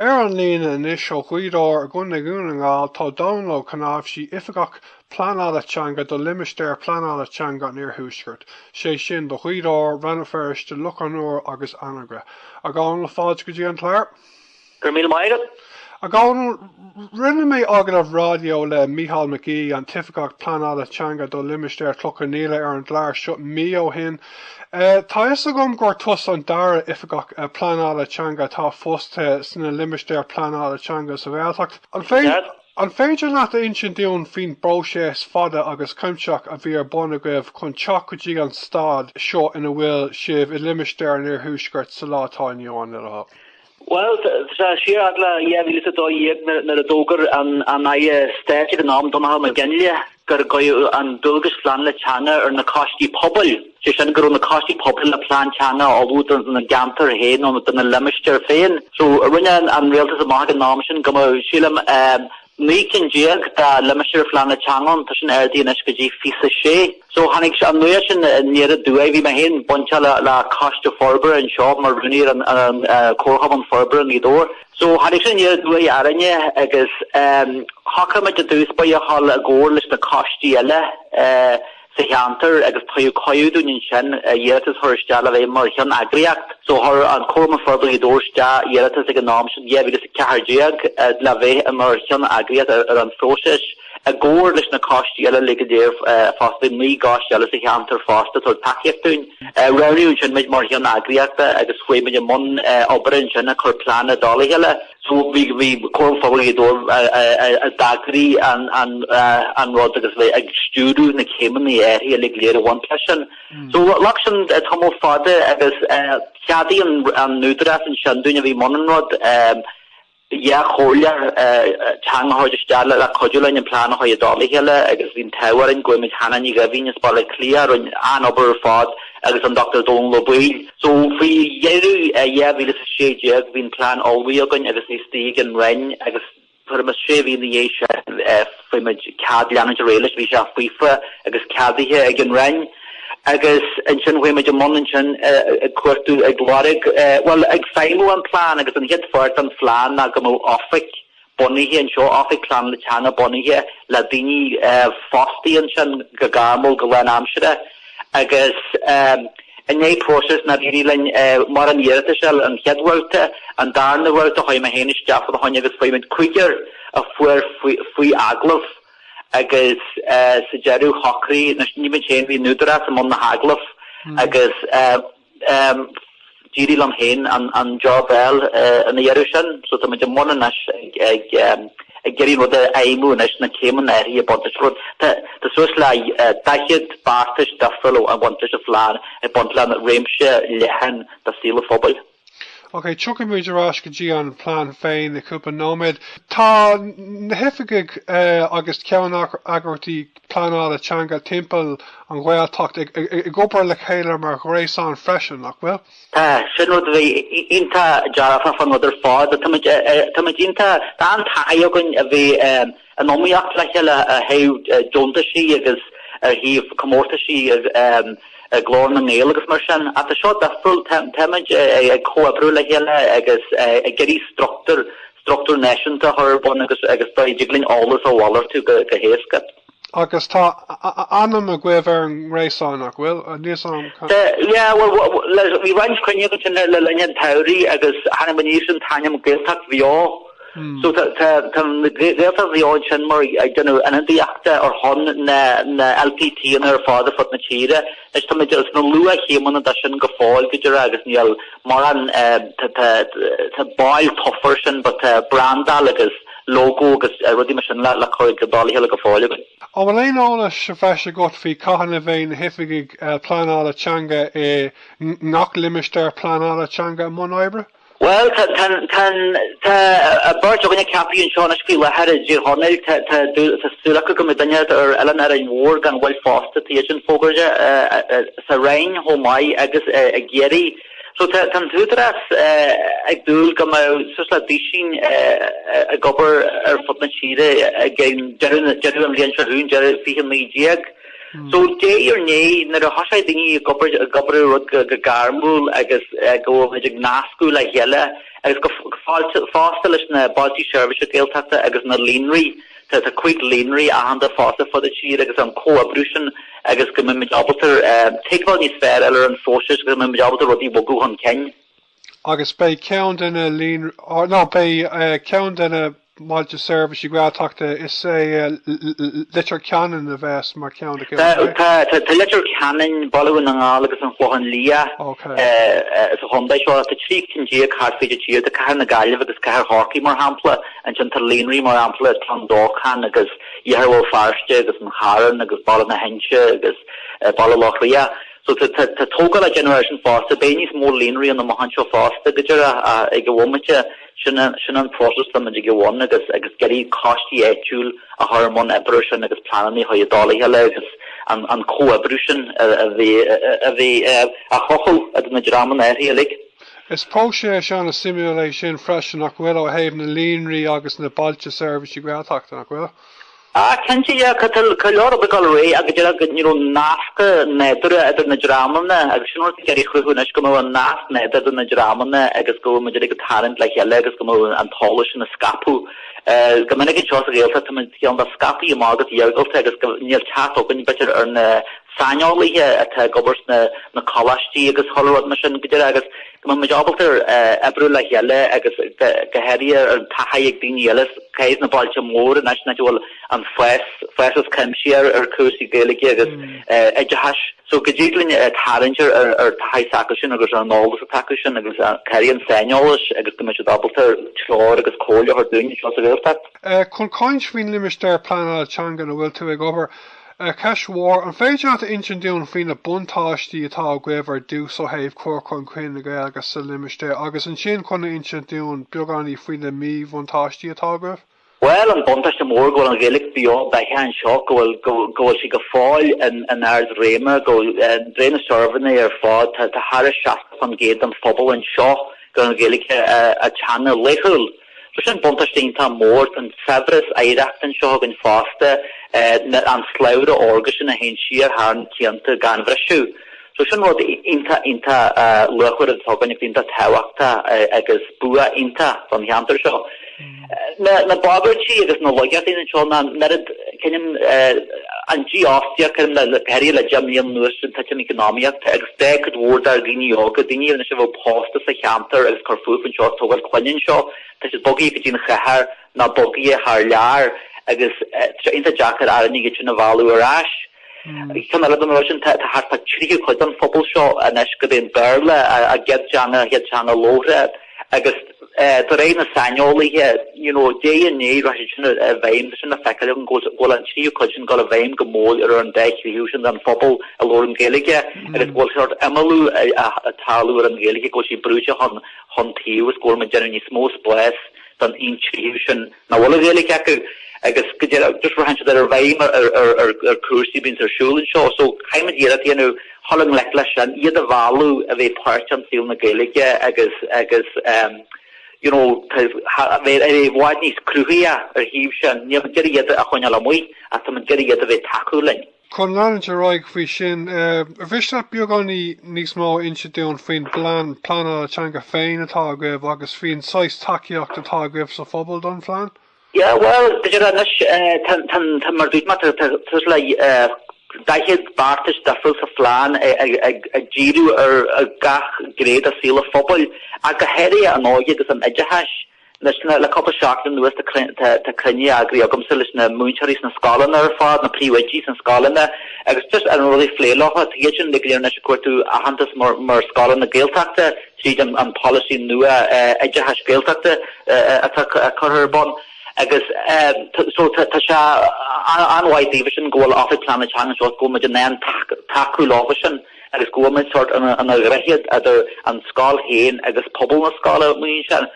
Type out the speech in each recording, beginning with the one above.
Ar an líne anois ó Ghaoth Dobhair i gContae Dhún na nGall tá Dónall Ó Cnáimhsí, Oifigeach Pleanála Teanga do Limistéar Pleanála Teanga an Iarthuaiscirt, sé sin do Ghaoth Dobhair, Rann na Feirste, Loch an Iúir agus Anagaire. A Dhónaill, fáilte go dtí an clár. Go raibh míle maith agat. A Dhónaill, rinne mé agallamh raidió le Micheál McGee, an tOifigeach Pleanála Teanga do Limistéar Chloich Cheann Fhaola ar an gclár seo mí ó shin. Tá a fhios agam gur tusa an dara Oifigeach Pleanála Teanga atá fostaithe sna Limistéir Pleanála Teanga sa Ghaeltacht. An féidir leat a insint dúinn faoin bpróiseas fada agus cuimsitheach a bhí ar bun agaibh chun teacht go dtí an stad seo ina bhfuil sibh i limistéar an Iarthuaiscirt sa lá atá inniu ann? Bhuel, tá siar i 2012 nuair a d'fhógair an aire stáit ag an am, Donnchadh Mac Fhionnlaoich, go dtabharfaí an dualgas pleanála teanga ar na coistí pobail, sé sin go raibh na coistí pobail le plean teanga a ullmhú do na gceantair féin nó do na limistéir féin. So rinne an rialtas amach ag an am sin go mbeadh, sílim, Naoi gcinn déag dá limistéar phleanála teanga ann, tá sin ardaithe anois go dtí fiche is a sé. So tháinig an nuaíocht sin aniar aduaidh. Bhí mé féin bainte le le Coiste Forbartha anseo mar rúnaí ar an an Chomharchumann Forbartha Ghaoth Dobhair. So tháinig sin aniar aduaidh orainne agus shocraigh muid i dtús báire a ghabháil i gcomhar leis na coistí eile eh sa cheantar agus tugadh cuireadh dúinn ansin a iarratas a chur isteach le bheith mar cheanneagraíocht. So chuir an Comharchumann Forbartha Ghaoth Dobhair isteach iarratas ag an am sin, 2014, le bheith mar cheanneagraíocht ar an phróiseas i gcomhar leis na coistí eile uilig go léir fosta. Naoi gcoiste eile sa cheantar fosta a thug tacaíocht dúinn. Roghnaíodh ansin muid mar cheanneagraíochta agus chuaigh muid i mbun oibre ansin ag cur plean i dtoll a chéile. Bhí Comharchumann Forbartha Ghaoth Dobhair ag eagrú an rud agus a bheith ag stiúradh na céimeanna áirithe uilig go léir a bhain leis sin. So ghlac sin tamall fada agus cheadaigh an tÚdarás ansin dúinn a bhí i mbun an rud, dhá chomhairleoir teanga a thabhairt isteach le cuidiú linn an plean a chur i dtoll a chéile agus bhí an t-ádh orainn go bhfuair muid Hannah Ní Dhoimhín as Baile Átha Cliath a rinne an-obair ar fad agus an Dr Dónall Ó Baoill. So, faoi dheireadh 2016, bhí an plean ullmhaithe againn agus é istigh ag an Roinn agus tuairim is sé mhí ina dhiaidh sin, fuair muid cead leanúint ar aghaidh leis, bhí sé faofa agus ceadaithe ag an Roinn. Agus ansin, chuaigh muid i mbun ansin ag cuartú, ag lorg, bhuel, ag feidhmiú an plean agus an chéad pháirt den phlean ná go mbeadh Oifig. bunaithe anseo, Oifig Pleanála Teanga bunaithe le daoine fostaithe ansin go gairmiúil go lánaimseartha agus i ndiaidh próiseas nár éirigh linn mar an iarratais an chéad bhabhta, an darna babhta chuaigh mé féin isteach fána choinne agus chuaigh muid cúigear a chuaigh faoi agallamh agus sa deireadh shocraigh, anois ní muid féin bhí an tÚdarás i mbun na hagallamh agus. D'éirigh liom féin an jab a fháil ina dheireadh sin, so táimid i mbun anois ag iarraidh an rud a fheidhmiú anois, na céimeanna áirithe a bhaint as rud. Tá suas le 40 beartais difriúil ag baint leis an phlean ag baint le réimse leathan de saol an phobail. Ok, tiocfaimid ar ais go dtí an plean féin i gceann cúpla nóiméad. Tá na hoifigigh agus ceann eagraíochtaí pleanála teanga timpeall an Ghaeltacht ag obair le chéile mar ghréasán freisin, nach bhfuil? Tá, sin rud a bhí iontach dearfach faoin rud ar fad. Táimid iontach, tá an-taithí againn a bheith in iomaíocht le chéile ar thaobh deontaisí agus ar thaobh comórtaisí Glór na nGael agus mar sin ach tá seo difriúil, táimid ag comhoibriú le chéile agus ag iarraidh struchtúr truchtúr náisiúnta a chur ar bun agus go dtig linn eolas a mhalartú go héasca. Agus tá ainm agaibh ar an ngréasán, nach bhfuil? Anois. Tá. Yeah, well, bhí roinnt cruinnithe agus sin le linn an tsamhraidh agus tháinig muid aníos leis an ainm Gaeltacht Bheo. So tá Gaeltacht Bheo ansin mar ag déanamh ionadaíochta ar shon na LPTanna ar fad ar fud na tíre. Anois táimid sna luath-chéimeanna de sin go fóill, go díreach, agus níl mórán, tá baill tofa ar sin, but tá brandáil agus logo agus rudaí mar sin le cur i dtoll a chéile go fóill againn. An bhfuil aon eolas sa bhreis agat faoi cathain a bheidh na hoifigigh pleanála teanga i ngach limistéar pleanála teanga i mbun oibre? Bhuel, tá, tá, tá, tá beirt againne ceaptha anseo anois faoi láthair i dTír Chonaill, tá, tá, tá súil acu go mbeidh duine ar Árainn Mhór gan mhoill fosta, tá iad sin fógartha sa Rinn chomh maith agus i gCiarraí. So tá, tá an tÚdarás ag dúil go mbeidh suas le duisín ag obair ar fud na tíre ag deireadh, deireadh an bhliain seo chugainn, deireadh 2019. So de réir a chéile, nuair a thosaíonn daoine ag obair, ag obair ar rud go gairmiúil agus go bhfuil muid ag nascadh le chéile agus go, fosta leis na bailtí seirbhíse Gaeltachta agus na líonraí, tá, tá cúig líonraí aitheanta fosta fríd an tír agus an comhoibriú sin agus go mbeimid ábalta tuigbheáil níos fearr a fháil ar an phróiseas agus go mbeimid ábalta rudaí a bhogadh chun cinn. agus beidh ceann de na líonraí, nó beidh ceann de na mbailte seirbhíse Gaeltachta, is é Leitir Ceanainn a bheas mar cheann acu, an ea? Tá Leitir Ceanainn, Baile Dhún na nGall agus an Chlochán Liath sa chontae seo. Tá 13 cinn thart fríd an tír, tá cathair na Gaillimhe agus cathair Chorcaí mar shampla, ansin tá líonraí mar shampla Cluain Dolcáin agus Iarthar Bhéal Feirste agus an Charn agus Baile na hInse agus Baile Locha Riach. So tá tógáil á déanamh air sin fosta. Beidh níos mó líonraí ann amach anseo fosta go díreach ag an bhomaite sin, sin an próiseas atá muid ina bhun agus agus d'fhéadfaí coistí áitiúil a chur i mbun oibre sin agus pleananna a chur i dtoll a chéile agus an an comhoibriú sin a a bheith a bheith a chothú idir na dreamanna áirithe uilig. Is próiseas an-suimiúil é sin freisin nach bhfuil ó thaobh na líonraí agus na bailte seirbhísí Gaeltachta, nach bhfuil? Tá cinnte, tá go leor ag dul ar aghaidh, go díreach na nascanna nádúrtha idir na dreamanna agus sin ag iarraidh a chruthú anois go mbeidh nasc nádúrtha idir na dreamanna agus go mbeidh muid ag tarraingt le chéile agus go mbeidh an t-eolas sin ag scaipeadh. Go minic anseo sa Ghaeltacht tá muid cineál scaipthe amach agus iargúlta agus níl teacht againn b'fhéidir ar na saineolaithe atá ag obair sna coláistí agus chuile rud mar sin go díreach agus Go mbeidh muid ábalta oibriú le chéile agus go háirithe an taithí ag daoine eile thuas sna bailte móra in áiteanna a bhfuil an fócas cuimsithe ar chúrsaí Gaeilge agus oideachais. So go dtig linn tarraingt ar an taithí s'acu sin agus ar an eolas atá acu sin agus go háirithe an saineolas agus go mbeidh siad ábalta treoir agus comhairle a thabhairt dúinn anseo sa Ghaeltacht. Chun caint faoin Limistéar Pleanála Teanga ina bhfuil tú ag obair, Ceist mhór, an féidir leat a insint dúinn faoi na buntáistí atá agaibh ar dtús ó thaobh chur chun cinn na Gaeilge sa limistéar agus ansin cineál a insint dúinn beagáiní faoi na míbhuntáistí atá agaibh? Bhuel, an buntáiste mór go bhfuil an Ghaeilge beo beathach anseo, go bhfuil, go, go bhfuil sí go fóill in, in ard réime, go, de réir na suirbhéanna ar fad, tá, tá thairis 60% den phobal anseo gur an Ghaeilge a, a teanga laethúil. So sin buntáiste iontach mór an saibhreas oidhreachta anseo againn fosta, an slabhra órga sin a théann siar thar na cianta gan bhriseadh. So sin rud iontach, iontach luachmhar atá againn agus iontach tábhachtach agus bua iontach don cheantar seo. Na bagairtí agus na laigeachtaí anseo ná an oiread, creidim, an dífhostaíocht, creidim, le, go háirithe le deich mbliana anuas, an titim eacnamaíochta agus. Beidh cuid mhór dár ndaoine óga, daoine a bheadh anois ag pósadh sa cheantar agus ag cur fúthu anseo ag tógáil clainne anseo. Tá siad bogaithe go dtí an chathair ná bogaithe thar lear agus tá sé iontach deacair orainn iad sin a mhealladh ar ais. Cineál de na rudaí sin, tá thart fá tríú cuid den phobal seo anois gurb é an Béarla a gcéad teanga, a gcéad teanga labhartha. Agus de réir na saineolaithe, you know, de réir na léirithe sin i bhfeidhm, tá sin le feiceáil againn, go bhfuil an tríú cuid sin ag dul i bhfeidhm go mór ar an dá thríú sin den phobal a labhrann Gaeilge agus go bhfuil sórt imeallú ag tarlú ar an Ghaeilge, go bhfuil sí brúite chun chun taobh agus go bhfuil muid ag déanamh níos mó spáis don aon tríú sin nach bhfuil an Ghaeilge acu agus go dtéann just go dtéann siad i bhfeidhm ar chúrsaí a bíonn ar siúl anseo so caithfimid iarracht a dhéanamh dhul i ngleic leis sin, iad a mhealladh a bheith páirteach in saol na Gaeilge agus agus ehm you know a bheith i bhfad níos cruthaithí ar an taobh sin, nílimid ag iarraidh iad a choinneáil amuigh ach táimid ag iarraidh iad a bheith ag tacú linn. Chun leanúint ar aghaidh faoi sin, ar mhiste leat beagáinín níos mó a inse dúinn faoin bplean pleanála teanga féin atá agaibh agus faoin saghas tacaíocht atá agaibh sa phobal don phlean. Yeah, well, tá díreach anois, tá, mar a dúirt mé, tá suas le daichead beartais difriúil sa phlean ag díriú ar gach gné de shaol an phobail ach go háirithe an óige agus an oideachais. Le cúpla seachtain anuas tá cruinniú eagraithe agamsa leis na múinteoirí sna scoileanna ar fad, na príomhoidí sna scoileanna, agus just ar na rudaí a phlé leofa. Tá iadsan go léir anois ag cuartú aitheantas mar scoileanna Gaeltachta tríd an polasaí nua oideachais Gaeltachta atá curtha ar bun. Agus so tá sé an-mhaith daofa sin go bhfuil Oifig Pleanála Teanga anseo go bhfuil muid in ann tacú leofa sin. agus go bhfuil muid sórt ina dhroichead idir an scoil féin agus pobal na scoile, mar sin.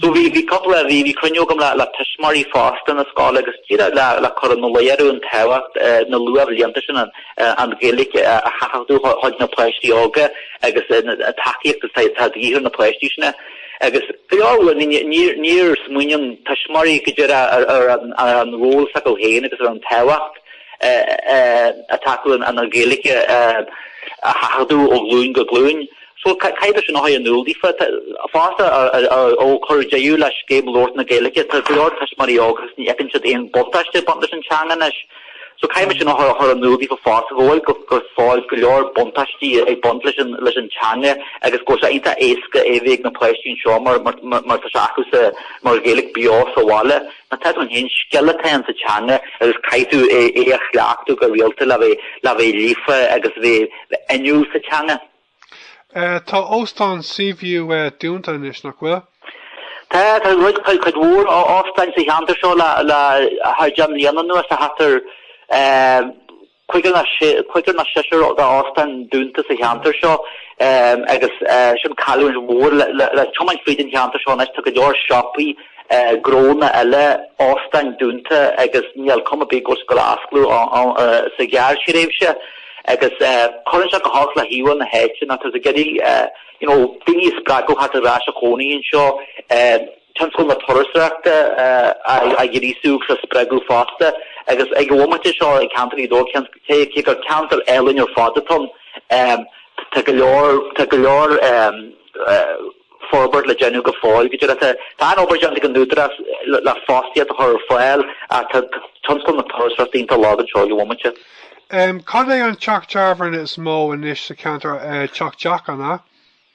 So bhí bhí cúpla bhí bhí cruinniú agam le le tuismitheoirí fosta na scoile agus díreach le le cur ina luí orthu an tábhacht na luathbhlianta sin an Ghaeilge a sheachadadh chuig na páistí óga agus an tacaíocht atá atá de dhíth ar na páistí sin agus go leor uair ní ní níor smaoineann tuismitheoirí go díreach ar ar ar an ról s'acu féin agus ar an tábhacht atá acu an Ghaeilge a sheachadadh ó ghlúin go glúin. So caithfidh mé sin a chur in iúl daofa. Fosta, ó cuireadh deireadh le scéim labhairt na Gaeilge, tá go leor tuismitheoirí óg agus ní fheiceann siad aon buntáiste ag baint leis an teanga anois. So caithfidh mé sin a chur in iúl daofa fosta go bhfuil go fóill go leor buntáistí ag baint leis an teanga agus go bhfuil sé iontach éasca é a bheith ag na páistí anseo mar tá sé acu mar Ghaeilge beo sa bhaile. An t-eadráin féin, scil atá ann sa teanga agus caithfidh tú é a chleachtadh go rialta le bheith líofa agus le bheith inniúil sa teanga. Tá Óstán Seaview dúnta anois, nach bhfuil? Tá, tá roinnt, cuid mhór óstáin sa cheantar seo le thar deich mbliana anuas tá ceathrar. Cúigear nó seisear de óstáin dúnta sa cheantar seo agus sin cailliúint mhór. Le tiomáint fríd an cheantar seo anois tá go leor siopaí gnónna eile, óstáin dúnta agus níl cuma ar bith go bhfuil siad ag goil a fhoscladh sa ghearrthréimhse. Agus cuireann sé go holc le híomhá na háite nuair atá tú ag iarraidh daoine a spreagadh a theacht ar ais a chónaí anseo. tionscal na turasóireachta a ghríosú agus a spreagadh fosta agus ag an bhomaite seo i gceantar Ghaoth Dobhair, cé gur ceantar álainn ar fad atá ann, tá go leor, tá go leor forbairt le déanamh go fóill go dtí seo. Tá an-obair déanta ag an Údarás le fostaíocht a chur ar fáil ach tá tionscal na turasóireachta iontach lag anseo ag an bhomaite. Cad é an teach tábhairne is mó anois sa cheantar? Teach Jack, an ea?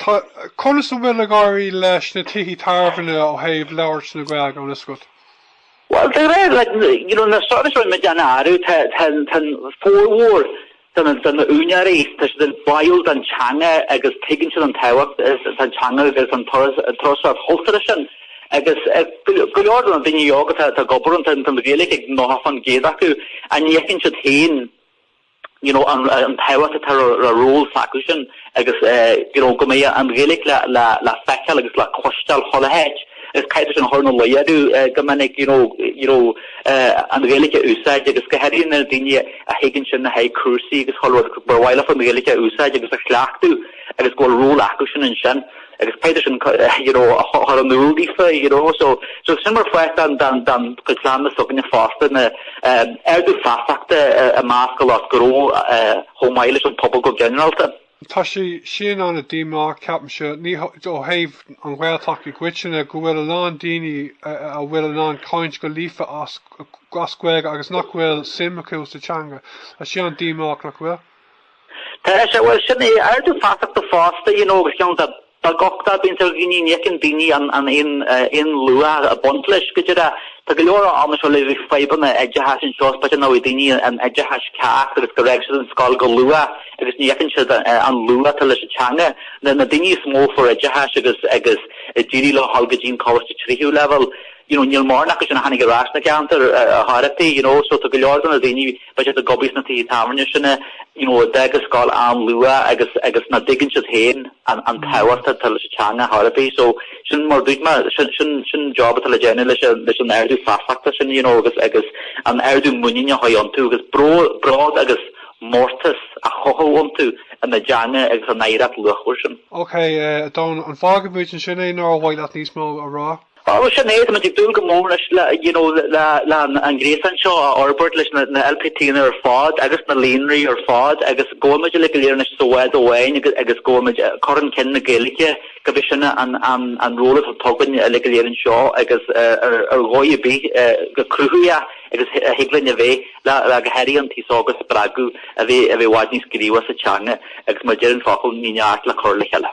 Conas a bhfuil ag éirí leis na tithe tábhairne ó thaobh labhairt na Gaeilge ann, a Scott? Bhuel, de réir na surveys a raibh mé ag déanamh orthu, tá an formhór de na úinéirí, tá siad báúil don teanga agus tuigeann siad an tábhacht atá ag an teanga agus an turasóireacht chultúrtha sin. Agus go leor de na daoine óga atá ag obair ann, tá an Ghaeilge ag 90% acu. Ach ní fheiceann siad féin, you know, an tábhacht atá le ról s'acu sin agus, you know, go mbeidh an Ghaeilge le, le, le feiceáil agus le cloisteáil chuile háit. Agus caithfidh tú sin a chur ina luí orthu go minic, you know, you know, an Ghaeilge a úsáid agus go háirithe na daoine a thigeann ansin le haghaidh cúrsaí agus chuile rud, ba mhaith leofa an Ghaeilge a úsáid agus a chleachtadh agus go bhfuil ról acu sin ansin. agus b'fhéidir sin you know a chur in iúl leofa you know so so sin mar pháirt den den den chuid plean s'againne fosta ná ehm ardú feasachta i measc lucht gnó eh chomh maith leis an pobal go ginearálta. Tá sé sin ana-dhíomách, ceapaimse, ní ó thaobh an Ghaeltacht i gcoitinne, go bhfuil a lán daoine a bhfuil in ann caint go líofa as as Gaeilge agus nach bhfuil suim acu sa teanga. Tá sé an-díomách, nach bhfuil? Tá sé, bhuel, sin é, ardú feasachta fosta, you know, agus ceann de, na deacrachtaí a bhíonns ann ná, you know, ní fheiceann daoine an, an aon, aon luach ag baint leis, go díreach. Tá go leor ann anseo le fadhbanna oideachais anseo, is b'fhéidir nach bhfuair daoine an oideachas ceart agus gur fhág siad an scoil go luath agus ní fheiceann siad an luach atá leis an teanga. Na, na daoine is mó a fuair oideachas agus, agus a d'éirigh leo dhul go dtí'n coláiste tríú leibhéal, you know, níl mórán acu sin a tháinig ar ais na gceantar ach oiread, you know, so tá go leor de na daoine a bheadh ag obair sna tithe tábhairne sin é, you know, a d'fhág an scoil an-luath agus, agus ná dtuigeann siad féin an, an tábhacht atá leis an teanga ar chor ar bith. So, sin mar a dúirt mé, sin, sin, sin an job atá le déanamh leis an, leis an ardú feasachta sin, you know, agus, agus an ardú muiníne a chothú iontu agus bród, bród agus mórtas a chothú iontu ina dteanga agus a n-oidhreacht luachmhar sin. Okay, a Dhónaill, an bhfágfaimid ansin é nó ar mhaith leat níos mó a rá? Bhuel, sin é, tá muid ag dúil go mór leis, you know, le an gréasán seo a fhorbairt, leis na LPTanna ar fad agus na líonraí ar fad agus go bhfuil muid uilig go léir anois sa bhád amháin agus agus go bhfuil muid ag cur chun cinn na Gaeilge gurb é sin an an an ról atá againn uilig go léir anseo agus ar ar dhóigh ar bith chomh cruthaitheach agus a thig linn a bheith le le go háirithe an t-aos óg a spreagadh a bheith a bheith i bhfad níos gníomhach sa teanga agus mar a deir an focal ní neart le cur le chéile.